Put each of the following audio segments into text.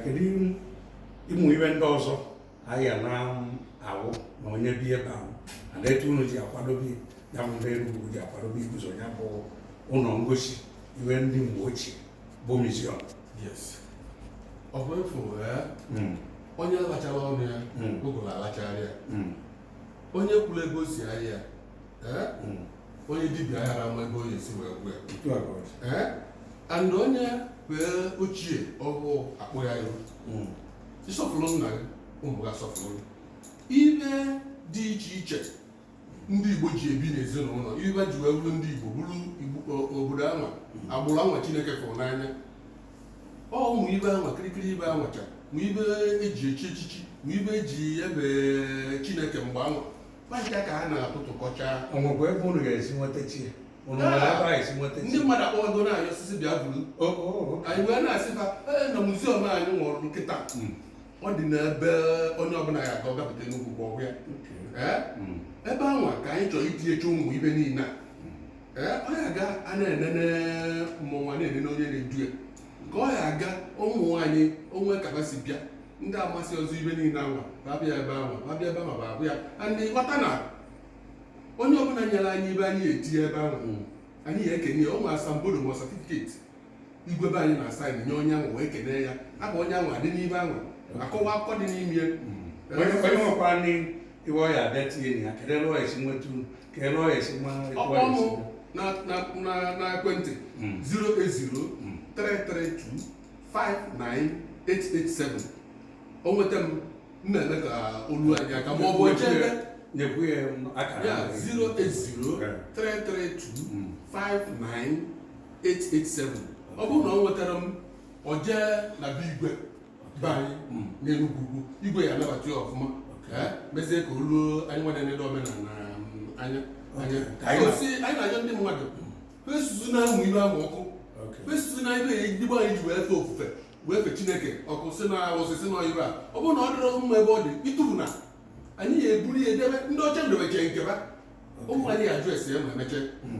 kedu ụmụ ibe ndị ọzọ anyị ya na awụ na onye bịa ebe ahụ na etu unu ji akwadobe ya bụ ndị Enugu ji akwadobe iguzo ya bụ ụlọ ngosi ihe ndị mgbe ochie bụ museum Ogbuefi hmm. onye alacharọ ọnụ ya hmm. ụgụrụ alachara ya hmm. onye kwurọ ebe o si ahịa onye dibịa ayara ama ebe ọ ya-esi wee gwọ ya ee and onye fee ochie ọhụụ akpọ ya ihu hmm. ị sọpụrụ nna gị ụmụ gị asọpụrụ ibe dị iche iche ndị igbo ji ebi n'ezinụlọ ibe ji wee bụrụ ndị igbo bụrụ obodo anwa hmm. agbụrụ anwa chineke fụrụ n'anya ọ ụmụ ibe anwa kirikiri ibe anwacha ma ibe eji echi echichi ma ibe eji efe chineke mgbe anwa Maazị ka ha na-atụtụkọcha o nwekwa ebe unu ga-esi nweta chi ya unu nwere ebe a esi nweta ndị chi mmadụ akpọwago na-ayọ osisi bịa buru o o o anyị wee na-asị ha "Ee, na muziọm anyị wuru kịta Mm. ọ dị n'ebe onye ọbụla ya aga ọ gapụta Enugu ukwu ọ hụ ya Ee? Mm. ebe anwa ka anyị chọrọ itinyecha ụmụ ibe niile a Ee, ọ ya aga a na-enene mmọnwụ na-enene onye na-edu ya ka ọ ya aga ụmụ nwaanyị o nwe ka ha si bịa ndị amasị ọzọ ibe niile anwa ba bịa ebe anwa ba bịa ebe ma ba hụ ya aghọta na onye ọbụla nyere anyị ibe anyị etinye ebe ahụ hmm. anyị ya ekene ya ọ nwere asambodo ma satifiketi igwe be anyị na-asaịnị nye onye ahụ wee kene ya afa onye ahụ adị n'ibe ahụ akọwa akụkọ dị n'ime ya hmm. onye nwekwara ibe ọ ya abịa tinye ya kedụ ebe ọ ya si nweta ka ebe ọ esi ma etu ọ kpọọ mụ esi na na na na ekwentị Mm. 080 Mm. 332 59887 o nweta m m na-eme ka o lu anyị aka ma ọ bụ chebe nyekwu ya akara ya ahụ. 080 Eh. 332 Mm. 59887 ọ bụrụ na o nwetarọ m o jee na be igwe be anyị mm. n'Enugwu ukwu igwe ya anabata ya ọfụma eh, mezie ka o ruo anyị na-enedo omenala mm, anya anyị na-ajọ ndị mmadụ ba esusuna ụmụ ibe ahụ ọkụ ba esusuna ibe ndị be anyị ji wee fee ofufe wee fe chineke ọkụ sị na arụsị sị na ibe a ọ bụrụ na ọ dịrọ mma ebe ọ dị ị tụfuna anyị ya eburu ya edebe ndị ọcha na-edobecha nke ba ụmụ anyị ya ajụ ese ya ma emecha mm.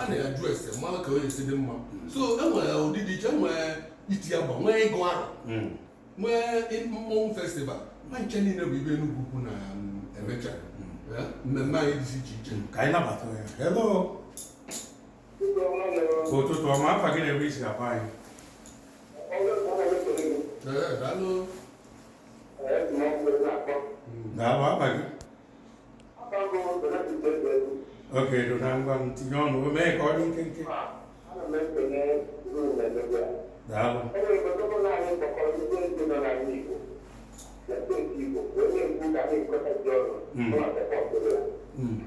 a na-ajụ ese mmanụ ka onye si dị mma so e nwere ụdị dị iche e nwere iti agba nwee ịgụ arọ hmm. nwee mmọnwụ festival ba ncha niile bụ ibe Enugu ukwu na um, emecha hmm. eh, mmemme anyị dịzi iche iche hmm. ka anyị nabata ya hello ụtụtụ ọma afa gị na ebe i si akpọ anyị eh, daalụ daalụ afa gị ok Dona ngwa m tinye ọnụ mee ka ọ dị nkenke daalụ Mm. Mm.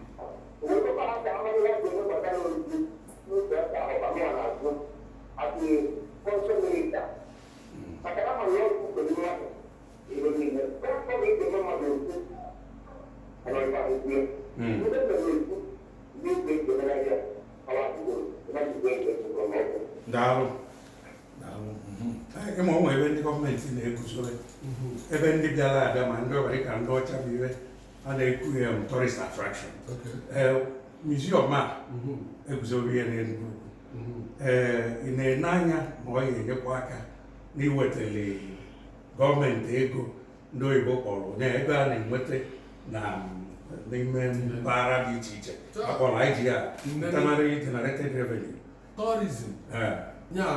Thank you. daalụ ịma ụmụ ebe ndị gọọmenti na-eguzobe ebe ndị bịara abịa ma ndị ọbara ka ndị ọcha bụ ife a na-ekwu ya tourist attraction museum a e guzobere n'Enugwu mm-hmm. ee ị na-ene anya na ọ ga-enyekwa aka n'iwetali gọọmenti ego ndị oyibo kpọrọ na ego a na-enweta na n'ime mpaghara dị iche iche a kpọrọ IGR internally generated revenue tourism ya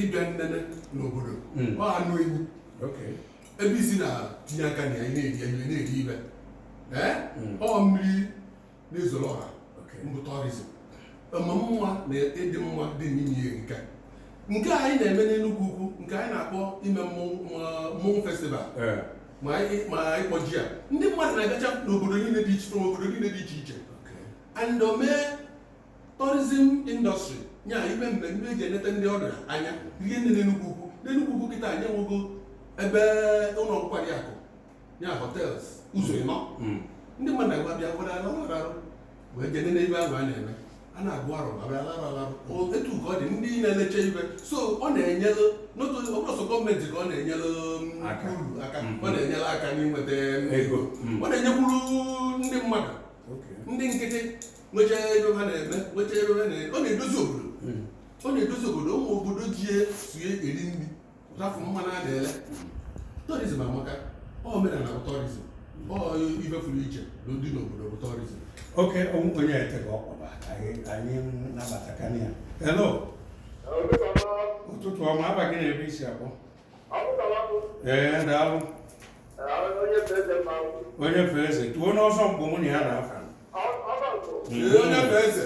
ịbịa nnene n'obodo hmm. ọ anụ ewu ebe i si na-etinye aka na ya na-eri eri na-eri ibe hmm. ọ mmiri na-ezoro ọha bụ tourism ma mma na ịdị mma dị n'ime erika nke anyị na-eme n'Enugwu ukwu nke anyị na-akpọ ime mmọnwụ festival ma anyị kpọji ya ndị mmadụ na-agacha n'obodo obodo niile dị iche iche and o mee tourism industry nya ime mmemme e ji eneta ndị ọbịa anya rie nne n'Enugwu ukwu n'Enugwu ukwu kịta anyị enwego ebe ụlọ nkwari akụ ya hotels ụzọ ịnọ mm. ndị mmadụ na-agwa bịa gwara ala ọrụ arụ wee jee nene ife ahụ a na-eme a na-agụ arọ abịa larụ alarụ etu ka ọ dị ndị na-elecha ife so ọ na-enyelụ ọ bụrọ sọ gọọmenti ka ọ na-enyelụ mm, aka mm-hmm. ọ na-enyelụ aka n'inweta ego mm. ọ na-enyekwuru ndị mmadụ ndị nkịtị nwecha ife ha na-eme nwecha ife ha na-eme ọ na-edozi obodo mm. ọ na-edozi obodo ụmụ obodo ji ya sue eri nri Rafụ mmanụ a na-ele tourism amaka omenala bụ tourism ọ ife fụrụ iche na-adị n'obodo bụ tourism ok onye etega ọ kpọba anyị nabatakwa ya hello ụtụtụ ọma afa gị na ebe i si akpọ ee daalụ onye fee eze tuo n'ọzọ mgbe mụ na ya na-afa onye fee eze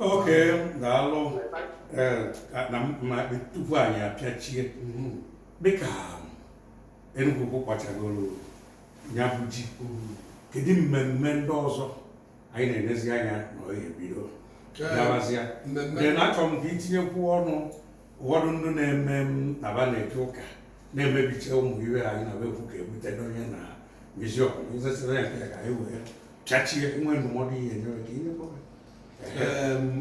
okay daalụ na tupu anyị apịachie dịka Enugu Ukwu wachagoro ya bụ ji kedu mmemme ndị ọzọ anyị na-enezi anya na ọ ga-ebido gawazịa na achọrọ m ka i tinyekwu ọnụ ụfọdụ ndị na-eme na ba na-eje ụka na-emebicha ụmụ ihe anyị na bekwu ka ebute n'onye na miziọm nzesịra ya ka anyị wee pịachie nwe ndụmọdụ ihe nyere ka ihe kpọrọ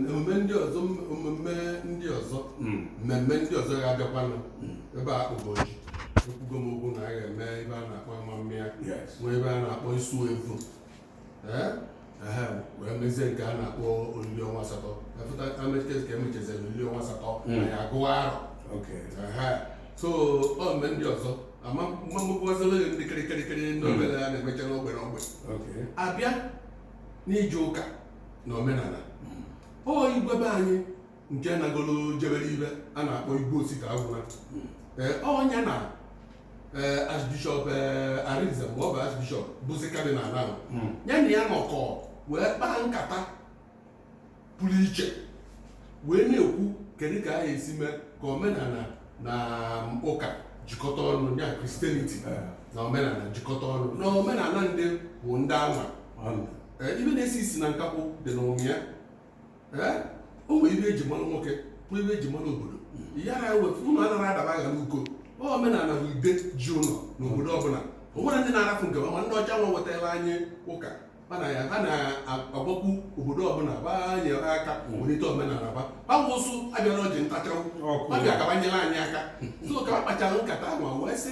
emume ndị ọzọ omume ndị ọzọ hmm. mmemme ndị ọzọ ga-abịakwanụ hmm. ebe a ụbọchị ekwugo m okwu na a ga-eme ihe a na-akpọ amamịa nwee ihe a na-akpọ isu evu wee mezie nke a na-akpọ olili ọnwa asatọ ka e mechaziri olili ọnwa asatọ hmm. a ya-agụwa arọ so ọ mmemme ndị ọzọ ama mmagbazolo ndị kịrịkịrịkịrị ndị hmm. obere a na-emecha n'ogbe n'ogbe abịa n'ije ụka na omenala hmm. ọ igwe be anyị nke nagolo jebere ibe a na-akpọ Igwe Osita Agwuna ọ nya na eh, Archbishop eh, Arinze mgbe ọ bụ Archbishop bụzi Cardinal ahụ hmm. ya na ya nọkọ wee kpaa nkata pụrụ iche wee na-ekwu kedu ka a ya-esi mee ka omenala na um, ụka jikọta ọnụ ya Christianity eh. na omenala jikọta ọnụ na omenala ndị bụ ndị anwa ibe na-esi isi na nkakwụ dị n'ime ya o nwere ibe e ji mara nwoke nwee ibe e ji mara obodo ya na ewefu ụmụ anaghị adaba aghara uko omenala bụ ide ji ụlọ n'obodo ọbụla o nwere ndị na-arapụ nke ma ndị ọcha nwa wetara anyị ụka ha na-agwakwu obodo ọbụla ba nyere aka welite omenala ba gbanwe ụsụ abịara ọjị ntacha ọkụ abịa ka ba nyere anyị aka so ka ba kpachara nkata ahụ wee sị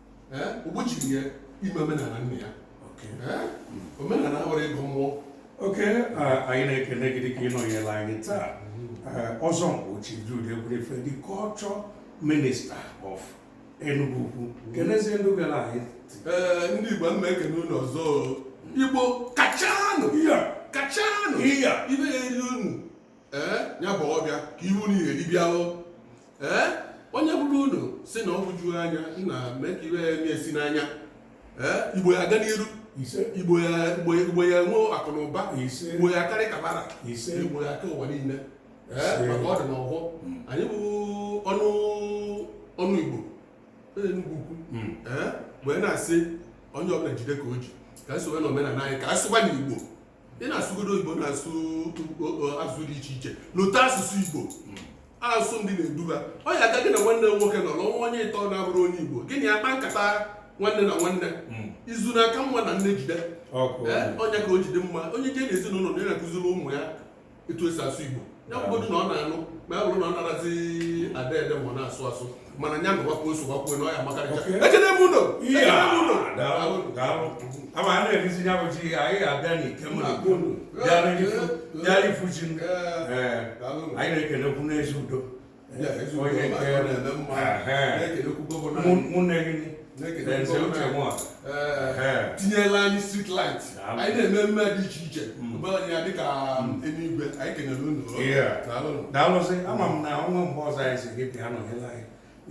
o gbochirọ ya ime omenala nna ya omenala abụrọ ịgọ mmụọ okay anyị na-ekele gị dịka ị nọnyere anyị taa Ọzọ Nkpu Chief Jude Ekwunife the culture minister of Enugu Ukwu kenezie ndị gara anyị ee ndị Igbo mma ekene unu ọzọ Igbo kachanụ kachanụ ibe ya-elu unu ee ya bụ ọbịa ka ihu na ihe dibịa o ee onye bụrụ unu si na ọgwụ juru anya nna mee ka iwe ya na-esi n'anya ee Igbo ya-aga n'iru ise igbo ya igbo ya- Igbo ya-enwe akụ na ụba Ise. igbo ya karị kabara Ise. igbo ya ka ụwa niile ee Ise. maka ọ dị n'ọhụụ anyị bụ ọnụ ọnụ igbo onye Enugu Ukwu ee wee na-asị onye ọbụla jide ka o ji ka anyị sowe na omenala anyị ka anyị sụkwa Igbo ị na-asụgodo igbo na-asụ asụsụ dị iche iche lota asụsụ igbo asụsụ ndị na-eduba ọ ya aga gị na nwanne nwoke nọ n'ọnwa onye ịtọ na-abụrụ onye igbo gị na ya kpa nkata nwanne na nwanne hmm. izu na-aka mma na nne jide onye ka o jide mma onye jee n'ezinụlọ na ya na-akụziri ụmụ ya etu esi asụ igbo ya bụgodu na ọ na-anụ ma ya bụrụ na ọ narazi ede ede ma ọ na-asụ asụ mana nya nụwakwa ọ sụwakwuo na ọ ya makarịcha Okay. ekene m unu daalụ, daalụ. Ama a na-erizi ya bụ ji anyị ga-abịa n'ike m na-agụ unu. Bịara ifu- bịara ifu ji m. Ee, Ee, daalụ. anyị na-ekenekwu n'ezi udo onye nke ụmụnne gị tinyela anyị street light anyị na-eme mmemme dị iche iche ụbọchị ya dịka eluigwe anyị kenere unu daalụsị ama m na ọnwa mgbe ọzọ anyị sị gị bịa nọnyere anyị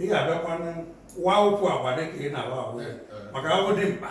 ị ga-abịakwa wa ụkwụ agba dịka ị na-awa agwa maka ahụ dị mkpa